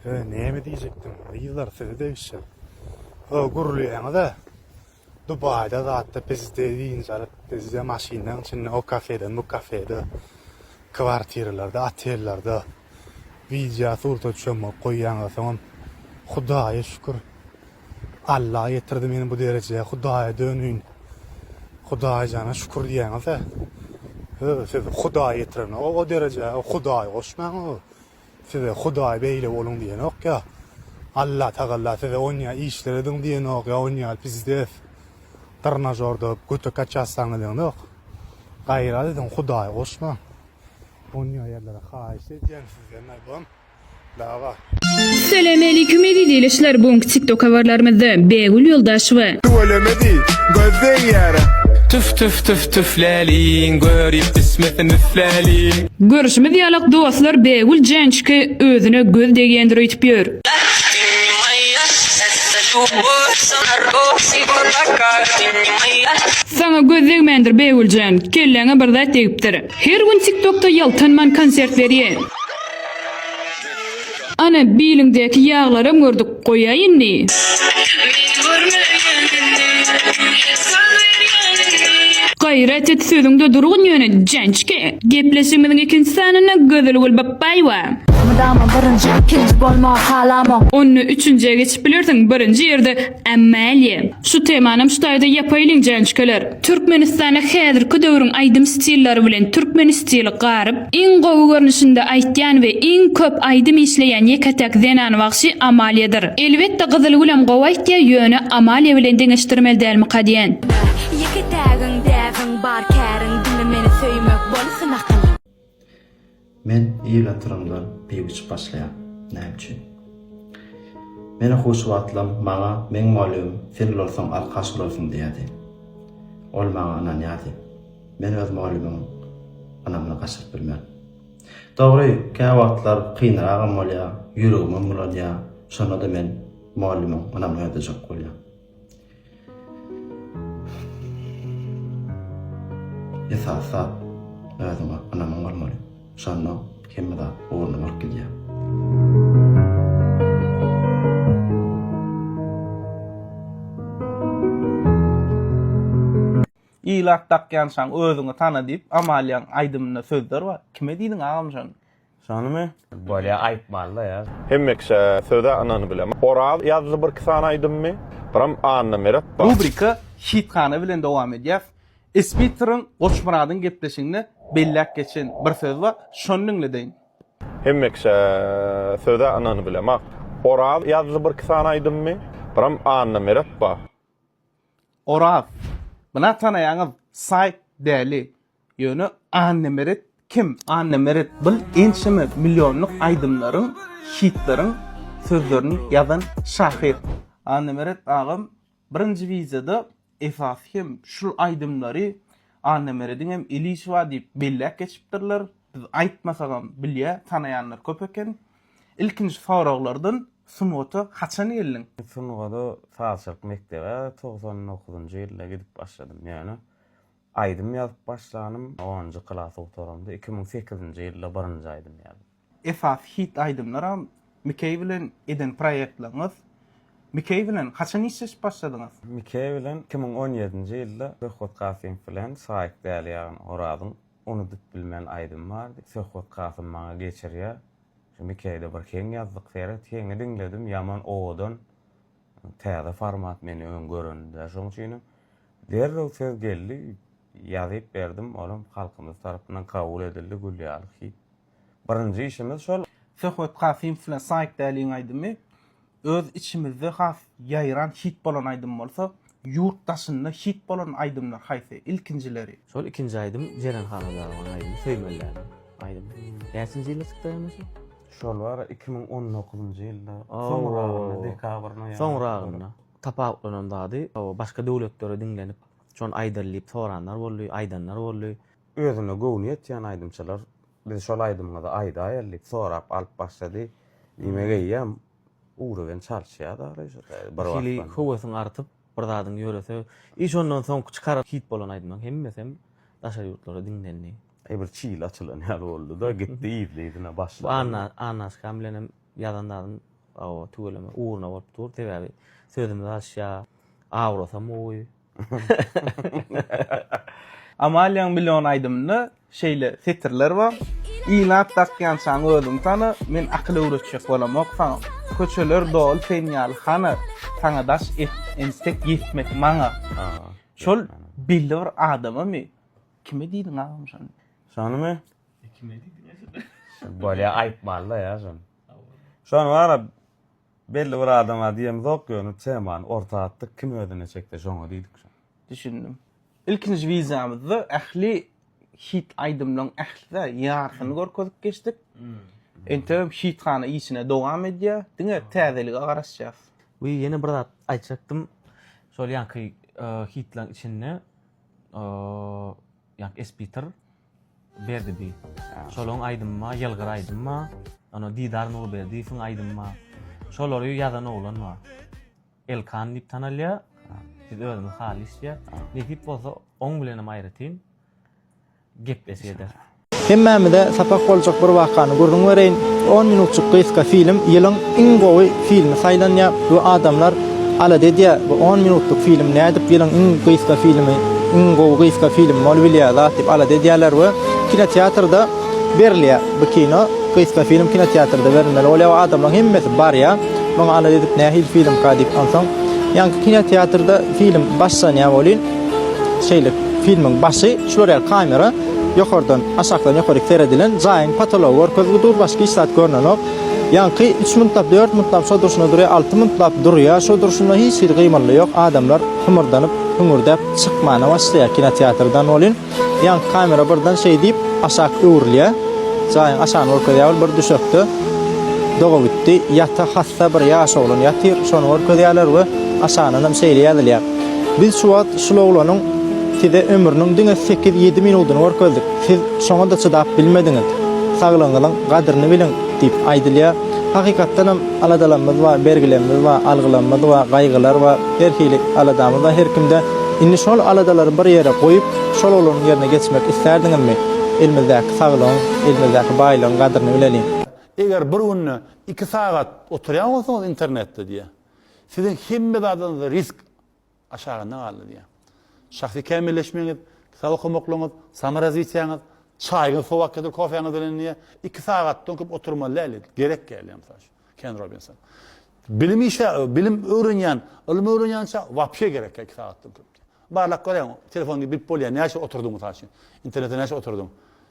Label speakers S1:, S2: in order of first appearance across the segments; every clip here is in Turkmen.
S1: Hö näme diýjekdim gyzlar sizi degişjek. Hö gürleýäňizä Dubaýda zatda bizde dynç alyp bizde maşynlaň içinde o kafede bu kafede kwartiralarda otellarda widýa surta çömüp goýýaňyza soňam Hudaýa şükür Alla ýetirdi meni bu derejä Hudaýa dönüýin Hudaýjana şükür diýýäňizä hö sizi Hudaý ýetiren o derejä Hudaýy goşmaň o Size Hudaý beýle boluň diýenok ýa Alla Tagalla size onýa işler ediň diýenok ýa onýa pizdez trnažorda götek açýassaň edenok. Gaýrat ediň Hudaýy goşmaň. Onýa ýerlere haýyş edýän sizden albom. Dawah. Selemeleykum
S2: eziz il işler bugunki tiktok habarlarymyzda Bägül Ýoldaşewa. Tüweleme diý,
S3: göz degýärä. Tüf tüf tüf
S4: tüfläliň, görip ismesin üfläliň. Görüşimiz ýalak
S2: dostlar Bägül Jançki özüne göz degýändir öýtüp ýör. Saňa göz degmändir Bägüljan, kelläňe bir zat degipdir. Her gün tiktokda ýaltanman konsert berýä. Ana biliňdäki ýaglaram gördük goýaý indi. Gaýrat et sözüňde durgun ýöne jançka. Gepleşigimiziň ikinji sanynda Gözelgül Bapbaýewa. Mydama
S5: birinji ikinji bolmagy halamok. Onda üçünjä
S2: geçip bilersiň birinji ýerde Amalia. Şu temanam şu taýda ýapaýlyň jançkeler. Türkmenistana häzirki döwrüň aýdym stillary bilen türkmen stili garyp, iň gowy görnüşinde aýtýan we iň köp aýdym işleýän ýeke-täk zenan wagşy Amaliadyr. Elbetde Gyzylgülem gowy aýtýa ýöne Amalia bilen deňeşdirmeli dälmyka diýen. Beh, ýeke-tägiň
S5: däbiň bar käriň diňe meni söýmek bolsun akyl.
S6: Men ýyl atyranlar pip içip başlaýan. Näme üçin? Meni huşy wagtlam maňa meň mugallymym Sen ulalsaň alkaş bolarsyň diýýärdi. Ol maňa ynanýardy. Men öz mugallymyň ynamyny gaçyryp bilmen. Dogry, käwagtlar kynragam bolýar, ýüregimem bulanýar, şonda-da men mugallymyň ynamyny ödejek bolýan. Esasy zat, özüňe ynamyň bolmaly. Şonda hemme zat ornuna bolup gidýär.
S7: Ilat dakýançaň özüňi tana diýip, Amaliýaň aýdymynda sözler bar. Kime diýdiň agam şony? Şonymy?
S8: Bolýa aýtmalyda ýaz. Hemmekiçä söze
S3: ynany bilen. Oraz ýazdy birki sany aýdymmy. Biram Anna Meret bar. Rubrika Şythana
S7: bilen dowam edýäs. Ispitryň Goçmyradyň gepleşiginde belläp geçen bir söz bar. Şony diňledeýin. Hemmekiçä
S3: söze ynany bilen. Oraz ýazdy birki sany aýdymmy. Biram Anna Meret bar.
S7: Oraz. Bina tanaýaňyz saýt däli. Ýöne Annemeret kim? Annemeret bul ençeme millionlyk aýdymlaryň, hitleriň sözlerini ýazan şahyr. Annemeret agam birinji wideoda esasy hem şul aýdymlary Annemerediň hem ilişi bar diýip belläp geçipdirler. Biz aýtmasagam bilýä, tanaýanlar köp eken. Ilkinji soraglardan sungata haçan geldiň? Sungada
S8: sazçylyk mekdebe togsan dokuzynjy ýylda gidip başladym. Ýöne Aýdym ýazyp başlanym onunjy klasy gutaramda iki müň sekizinji ýylda birinji aýdym ýazym. Esasy hit
S7: aýdymlaram Mikeý bilen eden proýektlaryňyz. Mikeý bilen haçan işleşip başladyňyz? Mikeý bilen iki
S8: müň on ýedinji ýylda Söhbet Kasymow bilen Saýyk däli ýagny Orazyň Unudyp bilmen aýdymy bardy. Söhbet Kasym maňa geçirýär. Şu Mikeýde bir heň ýazdyk seret. Heňi diňledim ýaman owadan. Täze format meni öň görendä şoň üçinem derrew söz geldi ýazyp berdim olam halkymyz tarapyndan kabul edildi gül ýaly hit birinji işimiz şol. Söhbet Kasymow
S7: bilen Saýk Däliň aýdymy öz içimizde has ýaýran hit bolan aýdym bolsa Ýurt daşynda hit bolan aýdymlar haýsy? Ilkinjileri. Şol ikinji aýdym
S9: Jeren Haladarowyň aýdymy Söýmeliläniň aýdymy. Näçinji ýylda çykdy aýdym şu? Şol bar
S8: iki müň on dokuzynjy ýylda soňragyna dekabryna ýa. Soňragyna.
S9: Tapawutlanan zady başga döwletlere diňlenip şony aýdaly diýip soranlar boldy, aýdanlar boldy. Özüne göwni
S8: ýetýän aýdymçylar biz şol aýdymyňyzy aýdaýaly diýip sorap alyp başlady. Diýmek eýýäm Ugra bilen çalyşýar aglaýyş bir wagtdan. Bir hili höwesiň
S9: artyp,
S8: bir
S9: zadyň ýörese, i şondan soňky çykaran hit bolan aýdymyň hemmesem daşary ýurtlarda diňlendi. Eý bir
S8: çil açylan ýaly
S9: boldy-da,
S8: gitdi yzly-yzyna başlady.
S9: Anna,
S8: Annaşkam bilenem ýazan
S9: zadym tüweleme ugruna bolup dur, sebäbi sözümiz alyşýar, awrasam gowy,
S7: Amaliýaň million aýdymynda şeýle setirler bar, Inat dakýançaň özüň tana, Men akyl öwretjek bolamok saňa. Köçeler doly sen ýaly hana, Saňa daş entek ýetmek maňa. Şol belli bir adamamy? Kime diýdiň agam şony? Şonymy?
S8: Kime diýdiň? Bolýa aýtmaly-da ýa şony. Şony bar-a. Belli bir adama diýemizok ýöne temany orta atdyk kim özüne çekse şoňa diýdik. Düşündim.
S7: Ilkinji wideomyzda ähli hit aýdymlaň ählisä ýarysyny görkezip geçdik. Entegem hit hana işine dowam edýär. Diňe täzelige garaşýas. We ýene bir
S9: zat aýtjakdym. Şol ýanky hitlaň içinde ýanky Espiter. Berdibi. Şolaň aýdymyma Ýylgyr aýdymma, ýone Didar Nurberdiýewiň aýdymma. Şolary ýazan oglan bar. Elkan diýip tanalýar. Biz özümiz haly işlýär. Nesip bolsa oň bilenem aýratyn gepleşýedir. Hemmämize
S10: sapak boljak bir wakany gürrüň bereýin. On minutjyk gysga film ýylyň iň gowy filmi saýlanýar we adamlar Alada edýä bu on minutlyk film nädip ýylyň iň gysga filmi, iň gowy gysga film bolup bilýä zat diýip alada edýäler we kinoteatrda berilýä bu kino gysga film kinoteatrda berilmeli bolýa we adamlaň hemmesi barýa muňa alada edip nähili filmka diýip onsoň ýaňky kinoteatrda film başlanýa welin şeýle filmiň başy şular ýaly kamera ýokardan aşakdan ýokaryk seredilen jaýyň potology görkezgi dur başga hiç zat görnenok. Ýaňky üç muntlap, dört muntlap şo durşuna durýar, alty muntlap durýar, şo durşunda hiç hili gymyldy ýok, adamlar hümürdänip, hüňürdäp çykmana başlaýar kinoteatrdan welin, ýaňky kamera birden şeý diýip, aşak öwrülýär, jaýyň aşagyny görkezýär, ol bir düşekde doga gitdi, ýata hassa bir ýaş oglan ýatyr, şony görkezýärler we aşagyndanam şeýle ýazylýar, Biz şu wagt şul oglanyň size ömrüniň diňe sekiz-ýedi minudyny görkezdik. Siz şoňa-da çydap bilmediňiz. Saglygyňyzyň gadryny biliň! diýip aýdylýar. Hakykatdanam, aladalarymyz bar, bergilerimiz bar, algylarymyz bar, gaýgylar bar, her hili aladamyz bar her kimde. Indi şol aladalary bir ýere goýup, şol oglanyň ýerine geçmek islärdiňizmi? Elimizdäki saglygyň, elimizdäki baýlygyň gadryny bileliň! Eger bir günde
S1: iki sagat oturýan bolsaňyz internetde diýýär. Siziň hemme zadyňyzda risk. aşagynda galdy diýýär. Şahsy kämilleşmegiňiz, kitap okamaklygyňyz, samorozwitiýaňyz, çaýyňyz sowakýadyr kofäňiz bilen diýýär, iki sagatdan köp oturmaly däl diýdi. Gerek däl diýýär mysal üçin Ken Robinson. Bilim işe, bilim öwrenýän, ylym öwrenýänçä wapşe gerek däl iki sagatdan köp diýýär. Barlap gör, telefon gidip bolýar, näçe oturdyň mysal üçin, internete näçe oturdyň?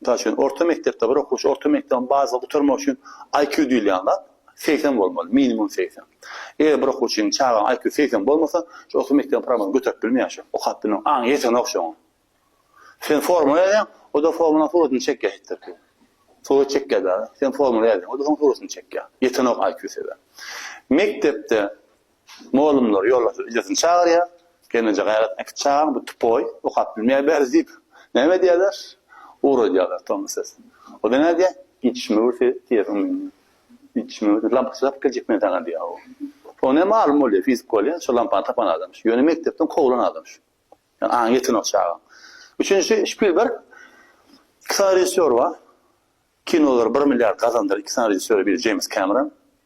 S1: Mysal üçin, orta mekdepde bir okuwçy orta mekdebiň baza gutarmagy üçin IQ diýilýän zat segsen bolmaly, minimum segsen. Eger bir okuwçyň, çagaň IQ segsen bolmasa, şu orta mekdebiň programmasyny göterip bilmeýär şu, okap bilmeýär, aňy ýetenok şu oňa. Sen formula ýazýaň, o-da formulaň suratyny çekýär etdirki. Surat çekýär-de, sen formula ýazýaň, o-da soň suratyny çekýär. Ýetenok IQ-sy sebäp. Mekdepde Molumlar ýoldaşy ejesini çagyrýar, Gelneje gaýrat äkit çagaň, bu tupoý, okap bilmeýär bäri diýip, näme edýärler? Ugradýarlar Tomy sesini. O-da näme diýýär? Gitişime görse diýýär o menden. Gitişime görse lampaçy tapyp geljek men saňa diýýär o. Oňa näme malum bolýar, fizik bolýar, şol lampany tapan adamyş. Ýöne mekdepden kowlan adamyş. Ýöne aňy ýetenok çagaň. Üçünjisi Şpilberg. Iki sany režissýor bar. Kinolar bir milliard gazandyr, iki sany režissýor, biri Jeýms Kameron,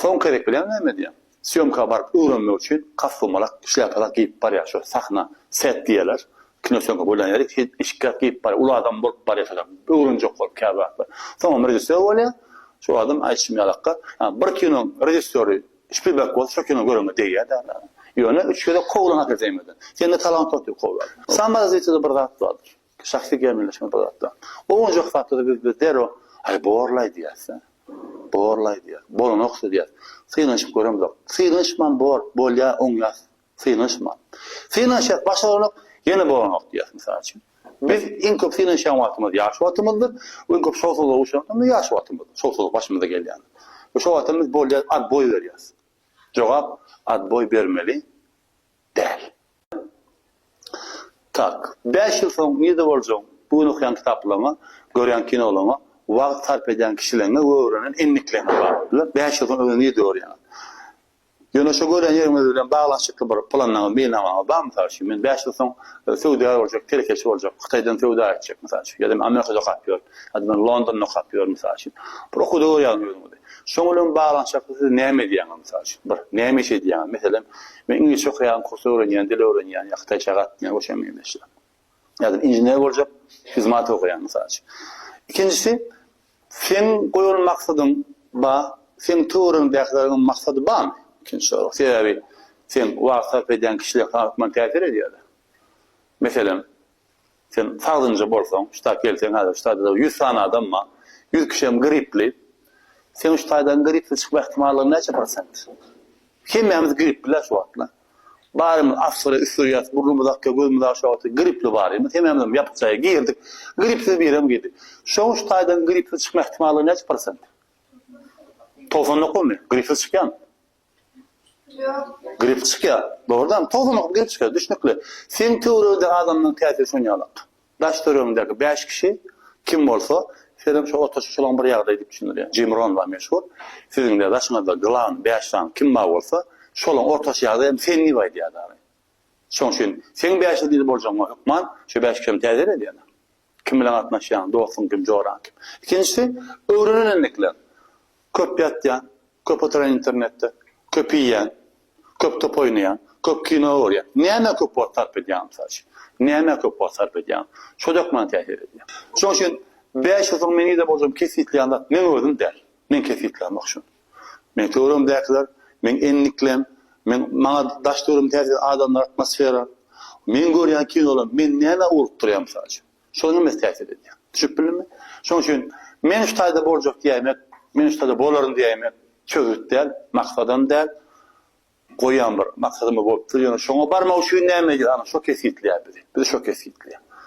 S1: Soňky gezek bileňmi näme edýäň? Sýomka baryp öwrenmek üçin kostumolak, şlýapalak geýip barýar şu sahna, set diýerler. Kino sýomka bolan ýeri hil eşikgäh geýip barýar. Uly adam bolup barýar şolar. Öwrenjek bolup käbir zatlar. Soňam režissýor bolýar. Şu adam aýdyşym ýalaka. Ýa bir kinoň režissýory
S11: Şpilberg bolsa şo kino göreňe degýär dälä. Ýöne üç gezek kowlan hakydaýmadan. Sende talant ýok diýip kowýarlar. Samara zritelde bir zat bardyr. Şahsy gämeleşme bu zatda. Owunjak zatda-da biz biz derrew, Aý, borlaý diýýäs-dä. Borlaý diýýäs. Bolanok-da diýýäs. Synanyşyp göremzok. Synanyşman bor, bolýa, oňýas. Synanyşman. Synanyşýas, başaranok, ýene bolanok diýýäs, mysal üçin. Biz iň köp synanyşýan wagtymyz ýaş wagtymyzdyr we iň köp şowsuzlyga uçran wagtymyz ýaş wagtymyzdyr. Şowsuzlyk başymyza gelýändir. We şo wagtam biz bolýa, atboý berýäs. Jogap, Atboý bermeli. däl. Tak. Bäş ýyl soň nirde boljagyňy, bu gün okaýan kitaplaryňa, görýän kinolaryňa, wagt sarp edýän kişileriňe we öwrenen endikleňe baglydyr. Bäş ýyl soň özüňi nirde görýäňiz? Ýöne şo görýän ýeriňiz bilen baglanyşykly bir planyňyz, meýilnamaňyz barmy? Mysal üçin, men bäş ýyl soň söwdagär boljak, telekeçi boljak, Hytaýdan söwda etjek, mysal üçin, ýa-da men Amerikada okap ýörün, ýa-da men Londonda okap ýörün, mysal üçin. Bir okuwda görýäňiz özüňizi. Şoň bilen baglanyşykly siz näme edýäňiz mysal üçin? Bir, näme iş edýäňiz? Meselem, men iňlisçe okaýan, kurs öwrenýän, dil öwrenýän ýa hytaýça gatnaýan we şoňa meňzeşler. Ýa-da inžener boljak, fizmat okaýan mysal üçin. Ikinjisi, seň goýan maksadyň bar, seň töweregiňdäkileriň maksady barmy? Ikinji sorag. Sebäbi seň wagt sarp edýän kişiler sana hökman täsir edýärler. Meselem, Sen sagdynja bolsaň, şu taýy gelseň häzir şu taýda ýüz sany adam bar. Ýüz kişem gripli. Seň şu taýdan gripsiz çykma ähtimallygyň näçe prosent? Hemmämiz gripli-le şu wagtlar. Barymyz asgyry üsdürýäs, burnumyz akýar, gözümiz aşak atýar, gripli barymyz. Hemmämizem ýapyk jaýa girdik. Gripsiz birem girdi. Şoň şu taýdan gripsiz çykma ähtimallygy näçe prosent? Togsan dokumy? Gripsiz çykýarmy? Grip çykýar. Dogrudanam, tozanok grip çykýar, düşnükli. Seň töweregindäki adamlaryň täsiri şon ýalak. Daş-töregiňdäki bäş kişi kim bolsa, senem şo otaşyp şolaň bir ýagdaýy diýip düşündirýäň. Jim Ron bar meşhur. Siziň-de daşyňyzda glan, bäş sany kim bar bolsa, şolaň ortaçy ýagdaýy hem sen diýip aýdýar dagy. Şoň üçin seň bäşiz diýdi boljagyňa hökman, şo bäş kişi hem täsir edýär. Kim bilen gatnaşýaň, dostuň kim, joraň kim? Ikinjisi, öwrenen endikleň. Köp ýatýan, köp oturan internetde, köp iýýän, köp top oýnaýan, köp kino görýän. Nämä köp wagt sarp edýäň, mysal üçin? Nämä köp wagt sarp edýäň? Şojak maňa täsir edýär. Şoň üçin bäş ýyldan meň ýa-da bolsam kesgitleýän zat meň özüm däl. Meň kesgitlämok şony. Meň töweregimdäkiler, meň endiklem, meň maňa daş dörüm täsir adamlar, atmosfera. Meň görýän kinolarym, men nämä urup durýan mysal üçin? Şolar hemmesi täsir edýär. Düşünip bildimmi? Şonuň üçin men şu taýda boljak diýäýmek, men şu taýda bolaryn diýäýmek çözgüt däl, maksadam däl. Goýýan bir maksadym bolupdyr, ýöne şoňa barmak üçin näme edýäris? Ana şo kesgitleýär bizi. Bizi şo kesgitleýär.